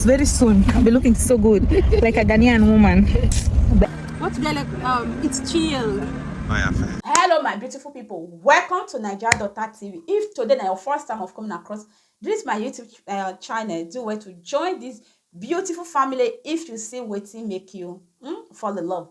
Very soon, I'll be looking so good, like a Ghanaian woman. What do they like? Um, it's chill. hello my beautiful people welcome to nigeria daughter tv if today na your first time of coming across this my youtube uh, channel do well to join this beautiful family if you see wetin make you mm, fall in love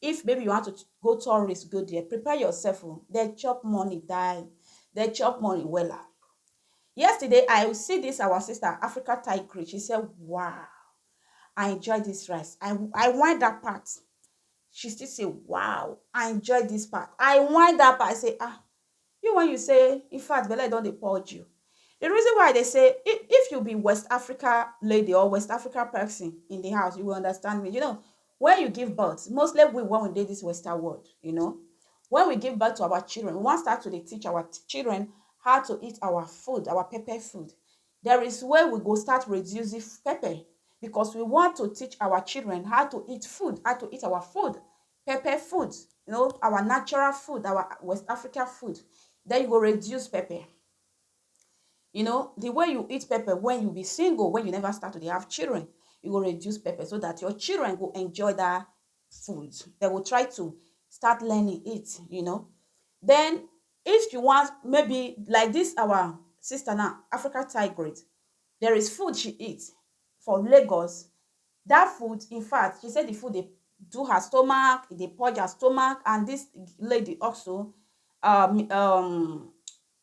If maybe you want to go tourist go there, prepare yourself o, dem chop money die, dem chop money wella. Yesterday I see this our sister Africa Tigress, she say wow I enjoy this rice, I I whine that part, she still say wow I enjoy this part, I whine that part, I say ah You wen you say infact belle don dey purge you the reason why I dey say if you be west Africa lady or west Africa person in the house you will understand me you know wen you give birth mostly we wen we dey this western world you know wen we give birth to our children we wan start to dey teach our children how to eat our food our pepper food there is way we go start reducing pepper because we want to teach our children how to eat food how to eat our food pepper food you know our natural food our west africa food then you go reduce pepper you know the way you eat pepper when you be single when you never start to have children you go reduce pepper so that your children go enjoy that food they will try to start learning it you know then if you want maybe like this our sister now africa tigrate there is food she eats for lagos That food, in fact, she say the food dey do her stomach, e dey purge her stomach, and this lady also, um, um,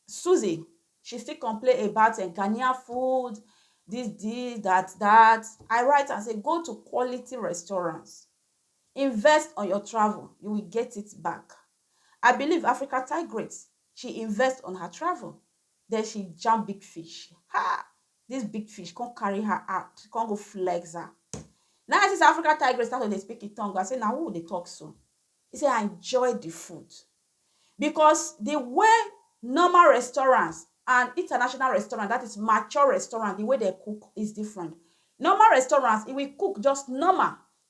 Susie, she still complain about uh, Ghanaian food, this, this, that, that. I write and say, go to quality restaurants, invest on your travel, you will get it back. I believe Africa Tigrate, she invest on her travel, then she jam big fish. Ha! This big fish come carry her out, she come go flex her. Now I see say African tigress start to dey speak in tongue. I say, now who dey talk so? He say, I enjoy the food. Because the way normal restaurants and international restaurant, that is mature restaurant, the way they cook is different. Normal restaurants, it will cook just normal.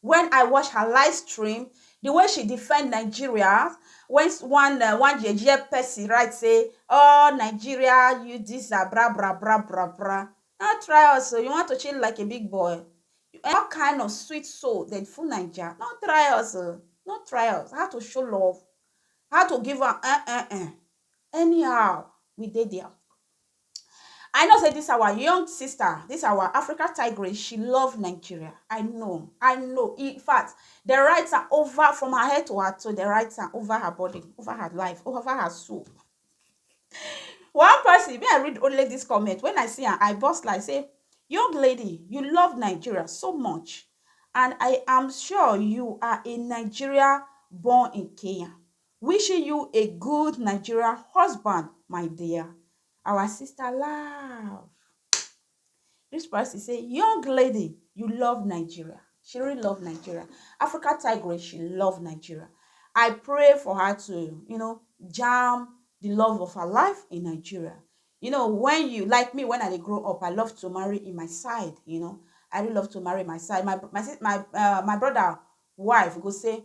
When I watch her live stream, the way she defend Nigeria when one uh, one yeye person write say, "Oh Nigeria, you this are bra bra bra bra bra." Now try us, so you want to chill like a big boy. You, what kind of sweet soul that full Nigeria? No try us, uh, no try us. How to show love, how to give her, uh, uh, uh. Anyhow, we did there. I know say this our young sister, this our Africa tigress, she love Nigeria. I know, I know. In fact, the write am over from her head to her toe, the write am over her body, over her life, over her soul. One person, me I read only this comment. When I see am, I burst like say, young lady, you love Nigeria so much, and I am sure you are a Nigeria born in Kenya. Wishing you a good Nigeria husband my dear. Our sister love. This person say, young lady, you love Nigeria. She really love Nigeria. Africa Tigress, she love Nigeria. I pray for her to, you know, jam the love of her life in Nigeria. You know, when you, like me, when I grow up, I love to marry in my side, you know. I really love to marry my side. My, my, my, uh, my brother wife go say,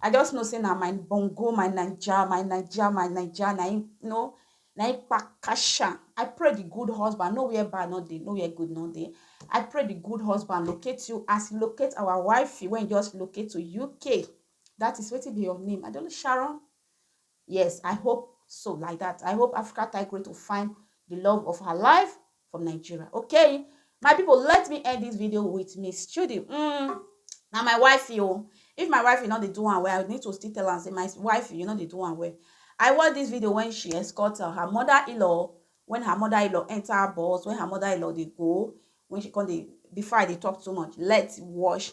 I just know say na my bongo, my Naija, my Naija, my Naija, na im no, na im kpakasha. I pray the good husband, no where bad no dey, no where good no dey. I pray the good husband locate you as he locate our wifey when he just locate to UK. That is wetin be your name? I don't know, Sharon? Yes I hope so like that I hope Africa Tigress to find the love of her life from Nigeria okay my people let me end this video with Miss Chudi mm, na my wife yo oh. if my wife you know dey do am well I need to still tell am say my wife you know dey do am well I watch this video when she escort uh, her mother-in-law when her mother-in-law enter bus when her mother-in-law dey go when she come dey before I dey talk too much let's watch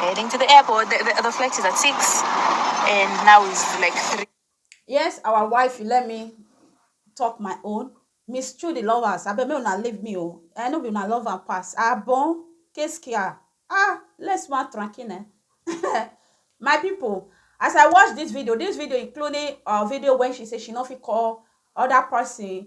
Heading to the airport. The, the, the flight is at six, and now it's like three. Yes, our wife, let me talk my own. Miss Trudy lovers, I bet me una leave me oh. I know we una love and pass. Ah bon, qu'est-ce qu'il y a? Ah, laisse-moi tranquille. eh. my people, as I watch this video, this video including a video when she say she no fit call other person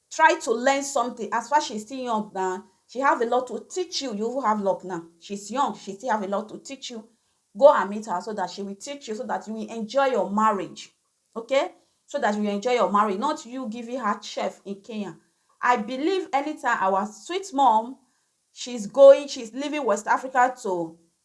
Try to learn something as far she still young na she have a lot to teach you you even have luck now she is young she still have a lot to teach you go and meet her so that she will teach you so that you will enjoy your marriage okay so that you will enjoy your marriage not you giving her chef in Kenya I believe anytime our sweet mom she's going she's leaving West Africa to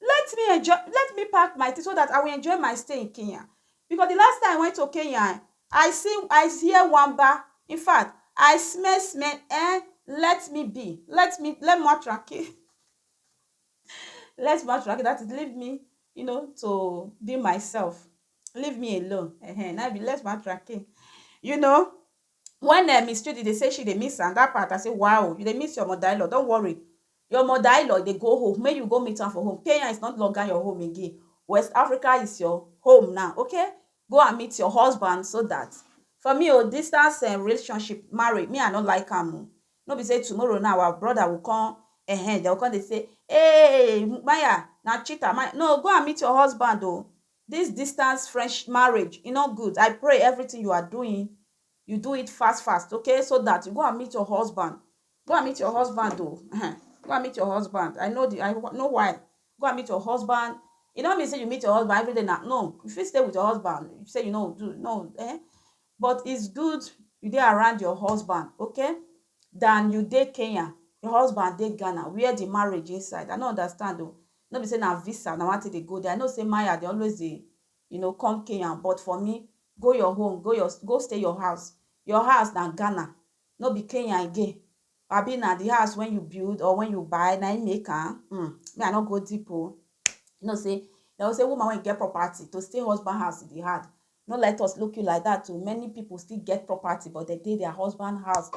Let me enjoy let me pack my things so that I will enjoy my stay in Kenya because the last time I went to Kenya eh, I see I hear wamba in fact I smell smell eh let me be let me let me tranquil let me tranquil that is leave me you know to be myself leave me alone eh, eh na be let me tranquil you know When um Miss Chidi dey say she dey miss am, that part I say wow, you dey miss your mother-in-law, don't worry, your mother-in-law dey go home, make you go meet am for home, Kenya is not longer your home again, West Africa is your home now, okay, go and meet your husband so that for me o, distance um relationship, marriage, me I no like am o, no be say tomorrow now our brother will come um dem go come dey say, hey Maya na cheater, no go and meet your husband o, This distance friendsh marriage e no good I pray everything you are doing you do it fast fast okay so that you go and meet your husband go and meet your husband o ehen go and meet your husband I know the I know why go and meet your husband e no mean say you meet your husband everyday na no you fit stay with your husband you say you no do no eh but it's good you dey around your husband okay than you dey Kenya your husband dey Ghana where the marriage inside I no understand o No be say na visa na wan take dey go there, I know say Maya dey always dey you know come Kenya but for me go your home go your go stay your house, your house na Ghana no be Kenya again abi na the house wey you build or wey you buy na him make am um me I no go deep o you know say dem go say woman wey get property to stay husband house e dey hard no let us look you like that o many people still get property but dem dey their husband house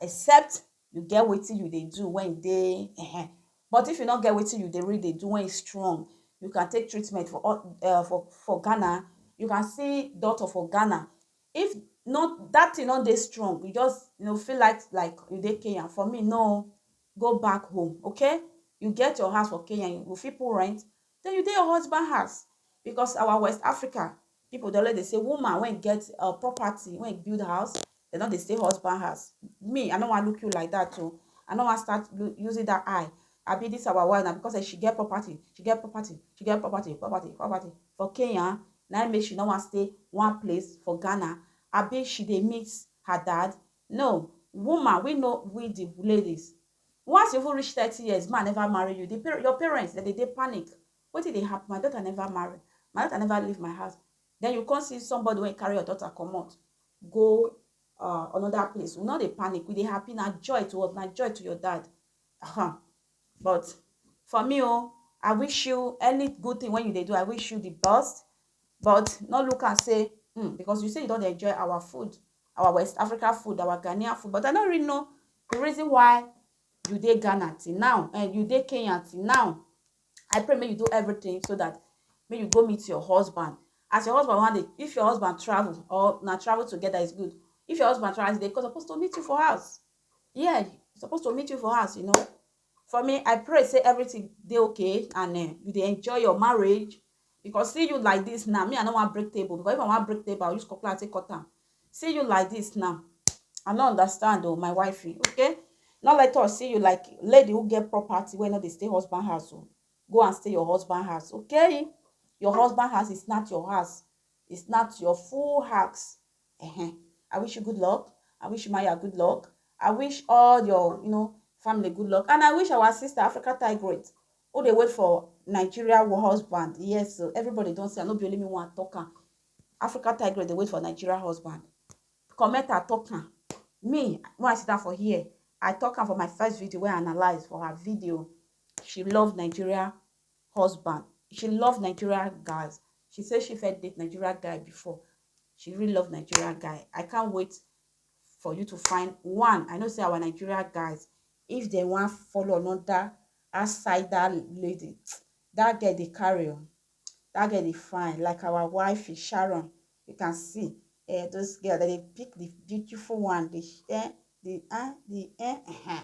except You get wetin you dey do when you dey ehe. But if you no get wetin you dey really dey do when you strong, you can take treatment for all eh for for Ghana, you can see doctor for Ghana. If no that thing no dey strong, you just you know feel like like you dey Kenya, for me no go back home okay. You get your house for Kenya, you go fit put rent, Then you dey your husband house because our West Africa people dey always dey say woman when get uh, property, when build house, they no dey stay husband house. Me, I no wan look you like that too. Oh. I no wan start using that eye. I be this our wife now because eh, she get property, she get property, she get property, property, property for Kenya. Now make she no wan stay one place for Ghana. I be she dey miss her dad. No, woman, we know we the ladies. Once you even reach thirty years, man never marry you, the par your parents dem dey dey panic. Wetin dey happen? My daughter never marry, my daughter never leave my house. Then you come see somebody wey carry your daughter comot go uh, another place. We no dey panic, we dey happy. Na joy to us, na joy to your dad. Uh-huh. But for me, oh, I wish you any good thing when you dey do. I wish you the best. But no look am say um because you say you don dey enjoy our food, our West Africa food, our Ghanaian food, but I no really know the reason why you dey Ghana till now, eh, you dey Kenya till now. I pray make you do everything so that make you go meet your husband. As your husband wan dey, if your husband travel or na travel together is good. If your husband travel, as you dey go, suppose to meet you for house. Yeah, suppose to meet you for house, you know. For me, I pray say everything dey okay and eh, you dey enjoy your marriage because see you like this now, me I no wan break table because if I wan break table, I will use cutlass take cut am. See you like this now, I no understand oh my wifey, okay? No let us see you like lady who get property wey no dey stay husband house oh. Go and stay your husband house, okay? Your husband house is not your house, it's not your full house. Uh-huh. I wish you good luck. I wish Maya good luck. I wish all your, you know, family good luck. And I wish our sister Africa Tigrate, who they wait for Nigeria war husband. Yes, so everybody don't say, I no be only me one talker. Africa Tigrate, they wait for Nigeria husband. Comment a talker. Me, when I sit down for here, I talk her for my first video where I analyze for her video. She love Nigeria husband. She love Nigeria guys. She said she felt date Nigeria guy before. she really love nigeria guy i can't wait for you to find one i know say our nigeria guys if they want follow another outside that lady that girl they carry on that girl they fine like our wife is sharon you can see uh, those girls that they pick the beautiful one the eh, the eh, the eh, uh -huh.